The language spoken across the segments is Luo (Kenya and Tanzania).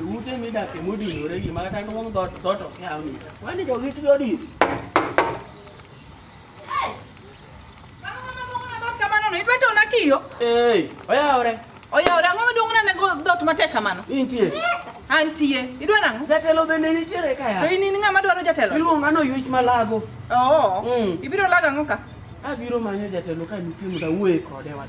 Ute midake modinore gi ma kata nduong' dhot dhot ok nyal ni. Wani jo git jo di. Ei, oyawre. Oyawre ang'o maduong' nane go dhot matek kamano? Intie. Antie. Idwa nang'o? Jatelo bende nitiere ka ya. To in in ng'ama dwaro jatelo? Iluonga no yuech malago. Oo. Mm. Ibiro lago ang'o ka? Abiro manyo jatelo ka nitie mondo awuoye kode wach.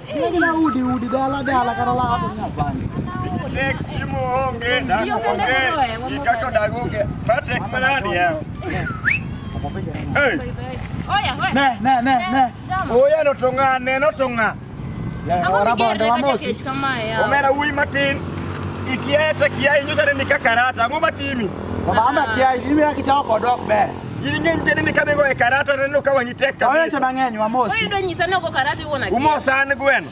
Kila udi udi dala dala kata la hapo nya bani. Tek chimo onge na onge. Ikako dagonge. Patek manani ya. Hey. Oya, oya. Ne ne ne ne. Jama. Oya no tonga ne no tonga. Ya Ang'o ora migerre bonde wa kaka mosi. kech kamae yawa? Omera wuyi matin. Ikieta kiai nyocha ne nikaka rata. Ang'o matimi? Baba ama kia imi akichao kodok be. Gini ng'eny kendo ni ka bigo e karata neno ka wang'i tek Waweche kabisa. mang'eny wamos. Wewe ndio nyisa noko karate uona. Umosa an gweno.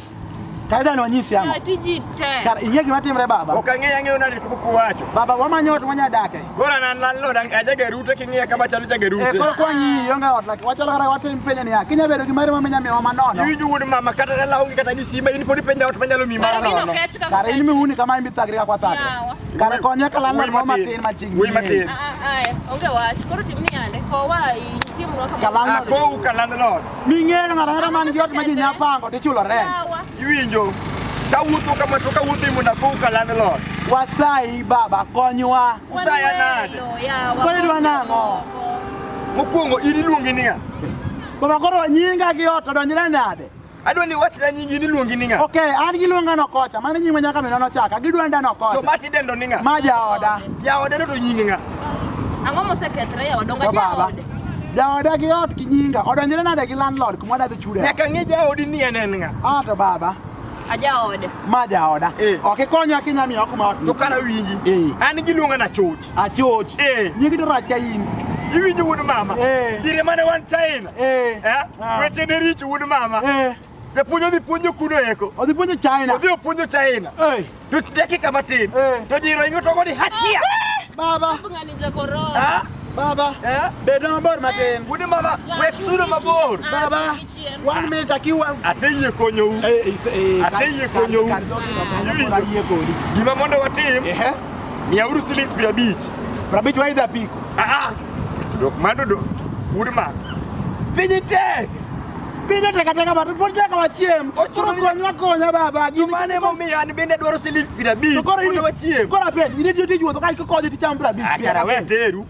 Kaida ni wanyisi yangu. Tiji te. Kar ing'e gima timre baba. Ok ang'eyo ang'eyo nadi kuku wacho. Baba wamanyo ot mwanya dake. Koro an landlord ang- ajager ute king'iya kama chalo jager Eh, koro ute. kwa nyi yonga ot laki wachalo kata watim penyo niya kinya bedo gi mari mamenya miwa manono Iwinjo wuod mama kata dala onge kata gi simba in pod ipenja ot manyalo mi mara Mimi nono. nokech kaka. Kare in miuni kama imithagri ka kwathagri Yawa. Kare konye kala Wuoyi lemo matin. matin machiegni. Wuoyi matin. Ah, ah, ah, eh, onge wach koro tim ni ande kowa inyisi mwa kama Kalang- Ah, kowu ka landlord. Ming'eyo ng'ato ang'ata man gi ot ma ji nya pango to ichulo rent. Yawa. Iwinjo. Kawuotho kama to kawuotho imona kowu ka landlord. Wasayi baba konywa. Usaya nade? Wanwelo, yawa. Kwani dwa nang'o? Mokwongo in iluongi niya. Baba koro nyinga gi ot odonjre nade? Adwa ni wachna nyingi ni luongi ni ng'a. Okay, an giluonga no kocha. Mano nyinga nyaka mino nochaka. Gidwa nda no To kocha. mati dendo ni ng'a. Ma jaoda. Jaoda no to nyingi ng'a. Ang'o mosekethre e odonga To baba. jaode? Jaoda gi ot gi nyinga. Odonjore nade gi landlord kuma dhi chude. Nyaka ng'e jaodi ni en en ng'a. Ah to baba. A jaode. Ma jaoda. Eh. Ok ikonya kinya miyo kuma ot. To kara winji. Eh. An giluonga na chuch. Achoch. Eh. Nyingi to rach ka in. Iwinjo wuod mama. Eh. Dire mane wan China. Eh. Eh? Ah. Weche ne richo wuod mama. Eh. Japuonj odhi puonjo kuno eko. Odhi puonjo China. Odhi opuonjo China. Eh. To dakika matin. Eh. To jiro ingo to godi hachia. Baba. Ngani za korona. Ah. Baba. Eh. Bedo mabor matin. Wuod mama, wek sudo mabor. Baba. One minute akiwa aseyie konyou. Eh, eh, eh, aseyie konyou. Gima mondo watim. Ehe. Miauru siling piero abich. Piero abich waidha piko. Ah ah. Dok mando dok. Udma. Pinyi tek. Pinyi tek ateka batu pod tek wachiem. Ochuro konywa konya baba. Gini mane momiyo an bende adwaro siling piero abich. Koro wachiem. Koro apenj, in itiyo tij wuotho ka ikonyo ticham piero abich. Akara ah, we teru.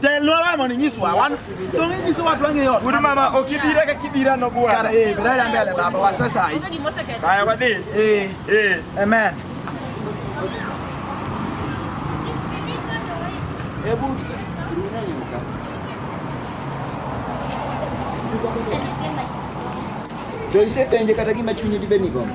Delora moni nyiswa wan donge nyiso watu ang'e yot. Uri mama okibira ka kibira no bwa. Kara eh bila ya mbele baba wa sasa hii. Haya wadi. Eh eh amen. Ebu Be isepenje kata gima chunyi dibed ni gombo?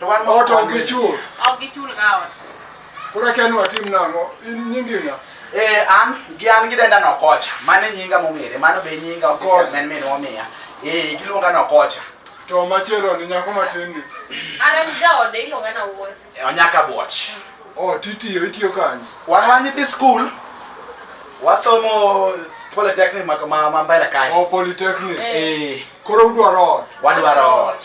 to wan ma ot ok gichul ok gichul ga ot koro akia ni watim nang'o in nyingi ng'a Eh, an gi an gidenda nokocha mano e nyinga mong'ere mano be nyinga ofisa men min omiya eh giluonga nokocha to machielo ni nyako matin ni an an jaode iluonga na wuoyi Eh, onyaka buoch o titiyo itiyo kanye wan wan nyithi skul wasomo polytechnic ma ma- ma mbele kae o polytechnic eh koro udwaro ot wadwaro ot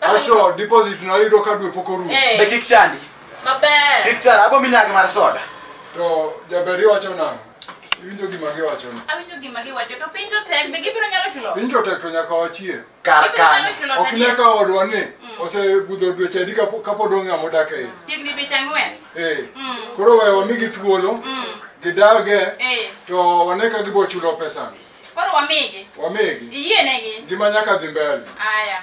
Asho deposit na yudo ka dwe pok orumo. Eh. Be kik chandi. Maber. Kik chara abo minyagi mar soda. To jaber iwacho nang'o? Iwinjo gima giwacho ni. Awinjo gima giwacho to piny to tek be gibiro nyalo chulo. Piny to tek to nyaka wachie. Kar kan. Ok ne ka odwa ni mm. osebudho dweche adi ka pod ong'a modak e iye. Chiegni dweche ang'wen. Eh. Mm. Koro we wamigi thuolo. Mm. Gidage. Eh. To wane ka gibo chulo pesani. Koro wamigi. Wamigi. Iyienegi. Ngima nyaka dhi mbele. Aya.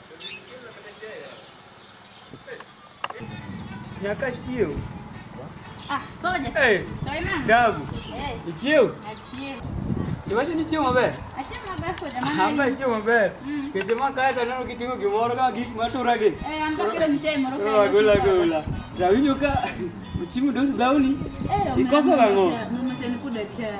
Nyaka chiew. Ah, soja. Hey, Toima. dagu. Eh, Ichiew. achie. Iwacho ni chiew maber. Achie maber soja Amba mama. chiew maber. Mm. Keche ma kae to aneno kitimo gimoro ka gik ma turagi. Eh, amba kilo nitie moro kae. Ola gola gola. Rawinjo ka uchimu dos dhawni. Eh, Ikoso nang'o? Mama tena kuda chai.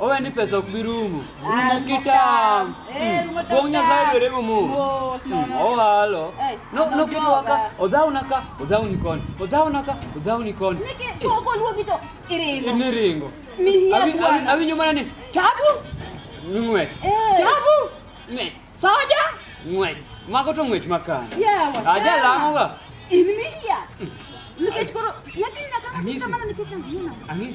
Owe ni pesa ok bi rumo. Rumo kitam. Eh, rumo tam. Wong Nyasaye dwere rumo. Mos, no, no. Owalo. Eh, No no kitu joga. waka. Odhaw na ka, odhaw ni koni. Odhaw na ka, odhaw ni koni. Niki to ko luogi to iringo. Ni ringo. Ni hia Awi- awi- bwana. Awinjo mana ni Tabu. ng'wech. Eh. Tabu. Ng'wech. Soja. Ng'wech. Mago to ng'wech makana. Yawa. Aja lamo ga. In mi hia. Nikech koro nyathi nyaka Amisi. kamano nikech angina. Ang'e.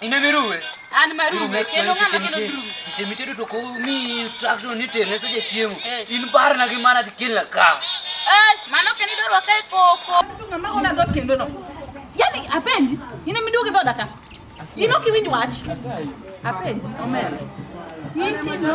In a meru. An meru. Kendo ng'ama kelo meru. Kise mi tedo to ko mi instruction ni tere so je chiemo. Eh. In bar na gi mana ti kila ka. Eh, mano keni doro ka koko. Ng'ama ona dot kendo no. Yaani apendi. Ina mi duoge dodaka. Ino kiwinj wach. Apendi. Omer. Inti no.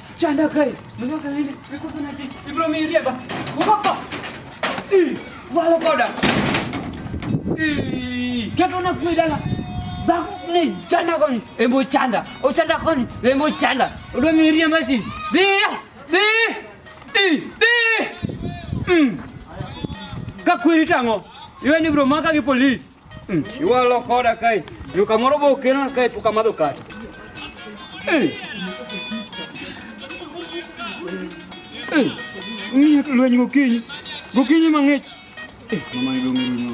Chanda kai. Mwenye kama hili. Iko sana hiki. Ibro miria ba. Ukapa. Eh. Wala koda. Eh. Kaka una kuidala. Baku ni chanda koni. Embo chanda. O chanda koni. Embo chanda. Udo miria mati. Di. Di. Di. Di. Mm. Kakwiri tango. Iwe ni bro maka ki police. Iwalo koda kai. Yo kamoro bo kena kai puka madho kai. Ng'iyo to lweny gokinyi. Gokinyi mang'ich. Mama ni dong' rumo.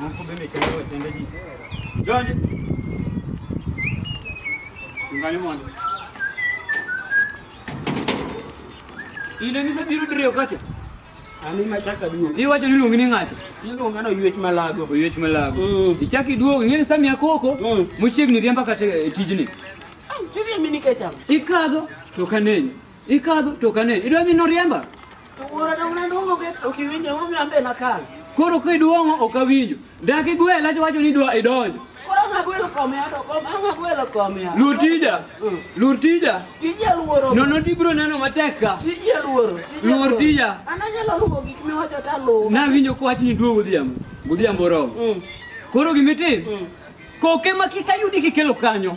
Moko bende chalo wetende ji. Donji. Ngani mondo. Ile nise biro diriyo kacha. Ani machaka duogo. Iwacho ni luongi ni ng'ato. Iluonga no yuech malago. Oyuech malago. Mm. Ichak iduogo ing'eni Sami Akoko Mm. mochiegni riemba kata e tijni. Tiriemi nikech ang'o? Ikadho to kanenyi. Ikadho to ok ane. Idwa mi noriemba? To wuora dong ne duong'o bet ok iwinjo emomiyo an be nakal. Koro kiduong'o ok awinjo. Dak igwela to wacho ni idwa idonjo. Koro ang' agwelo kome ado kom ang' agwelo kome ado. Luor tija. Mm. Luor tija. Tija luoro. Nono tibiro neno matek ka. Tija luoro. Tija Luor luoro. tija. An anyalo luwo gik miwacho to aluwo. Nawinjo ka wachni duo godhiambo. Godhiambo oromo. Mm. Koro gimitim, Mm. koke ma kik ayudi kikelo kanyo.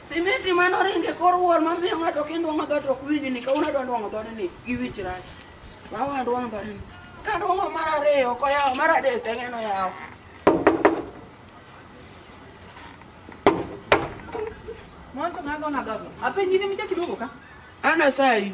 Simiti mane oringo e kor wuor mamiyo ng'ato kindwang'o dhoot ok winji ni kawuono adwa ndwang'o dhoode ni gi wich rach. Lawa ndwang'o dhoode ni. Ka ndwang'o mar ariyo ok oyawo mar adek to eng'eno yawo. Monto ng'ago na dhogo. Apenji ni micha kiduogo ka? Ana sayi.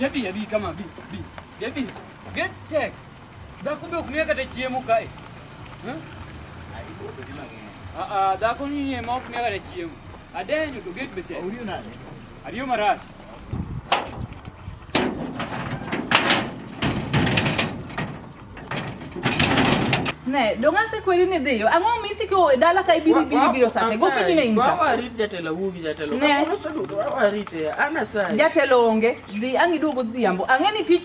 Yabi yabi kama bi bi yabi get tech dhako be ok miya kata chiemo kae dhako ni ma ok miya kata chiemo adenyo to get be tek Ne, donga se kweri ne dhiyo. Ang'o mi siko dala ka ibiro ibiro biro sa. Go kinyi ne inka. Wa rit jatelo wugi jatelo. Ne. Wa rit. Ana sa. Jatelo onge. Dhi angi duogo dhiambo. Ang'e ni tich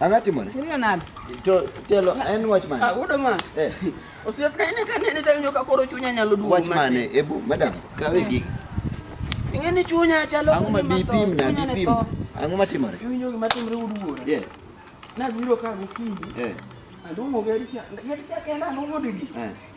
Ang'a timore? Iriyo nade? To telo en wach mane? Ah, wuoda ma. Eh. Osiep ka ine ka nene tanyo ka koro chunya nyalo duogo. Wach mane? Ebu madam, kawe gigi. Ing'e ni chunya chalo Ang'o ma bipim na bipim? Ang'o ma timore? Iwinjo gima timre uduore. Yes. Nabiro ka gokinyi. Eh. Aluongo gari cha. Gari cha kenda anong'o didi. Eh.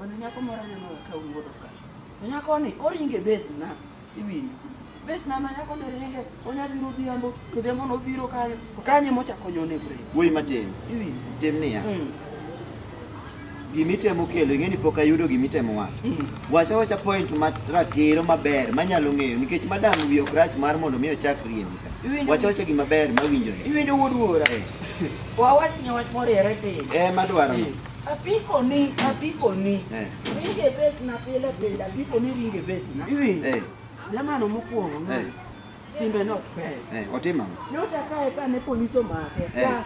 Mana nyako moro aneno ga ka wuodo ka. To nyakoni oringe base na iwinjo. Base na ma nyako ne ringe onya biro odhiambo to odhiambo nobiro kanyo to kanyo emochako nyone bre. Wuoyi matin, Iwinjo. tim niya. Mm. Gimitemo kelo, ing'e ni pok ayudo gimitemo wacho. Mm. Wacha wacha point ma ratiro maber manyalo ng'eyo nikech madam wiye ok rach mar mondo mi ochak riembi ka. Iwinjo- Wacha wacha gima ber mawinjore. Iwinjo wuod wuora. Eh. Wawach ni wach moriere piny. Eh madwaro. Mm. Apiko ni, apiko ni. Eh. Ringe base na pile pile, apiko ni ringe base na. Iwi. Eh. Jamano mokuongo. Eh. Timbe no pe. Eh, otima. Nyota kae ka ne polisi omake. Eh. Ka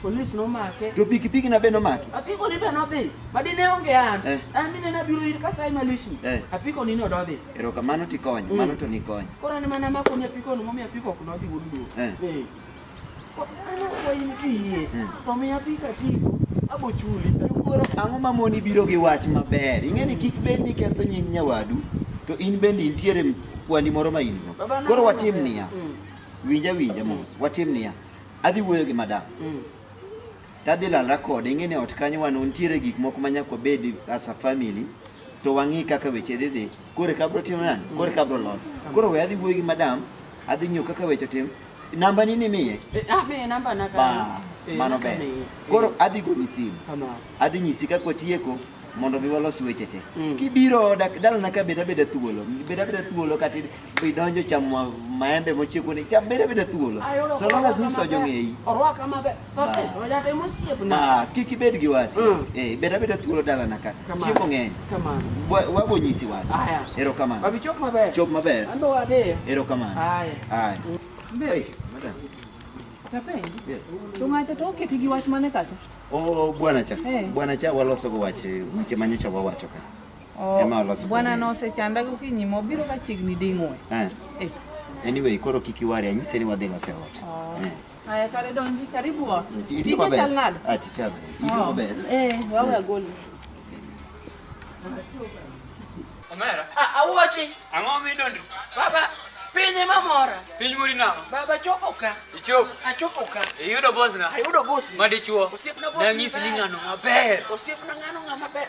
polis nomake. To pikipiki na be nomake. Apiko ni be nodhi. Madi ne onge an. Eh. An mine na biro ir kasai malishi. Eh. Apiko ni no dodhi. Ero kamano tikonyo, mm. mano to nikonyo. Kora ni mana mako ni apiko no momi apiko ok nodhi wudu. Eh. eh. Kwayin kiyie, to miya pi katigo, abochuli. Koro ang'o ma moni biro gi wach maber? Ing'e ni kik bed ni ketho nying nyawadu, to in bende intiere kwani moro ma in-go. Koro watim niya, winja winja mos, watim niya, adhi wuoyo gi madam. Tadhi lalra kode, ing'e ni ot kanyo wan ntiere gik moko ma nyaka wabed as a family, to wang'i kaka weche dhi dhi. Koro eka abro timo nani? Koro eka abro loso. Koro we adhi wuoyo gi madam, adhi ng'iyo kaka weche tim, Namba nini miye? Eh, ah, miye namba na ba eh, mano ber. Koro adhi goni simu. Adhi nyisi kaka watieko mondo mi walos weche te. Mm. Kibiro oda dalana ka beda beda thuolo. Beda beda thuolo kata idonjo chamo maembe mochieko ni cham beda beda thuolo. So long as ni sojo ng'eyi. Orwaka maber. kik ibed gi wasi mm. eh, bed abeda thuolo dalana ka chiemo ng'eny wabonyisi wach erokamano chop maber erokamano Oh, bwana cha. Hey. Eh. Bwana cha waloso go wach weche ma nyocha wawacho ka. Oh, Ema waloso. Bwana no se chanda go kinyi mo biro ka chigni dingwe. Eh. eh. Anyway, koro kiki wari anyise ni wadhi lose ot. Oh. Eh. Aya kare donji, karibu ot. Tije Tije maber. chal nade? Ah, tich maber. Tich Oh. maber. Eh, wawe agoli. Omera, Ah, awuochi ang'o midondri? baba piny ema mora Piny mori nang'o? baba chopo ka Ichop, achopo ka iyudo bosna ayudo bosi madichuo. Osiepna boss Nanyisi ni maber. ng'ano maber. osiepna ng'ano ng'ama ber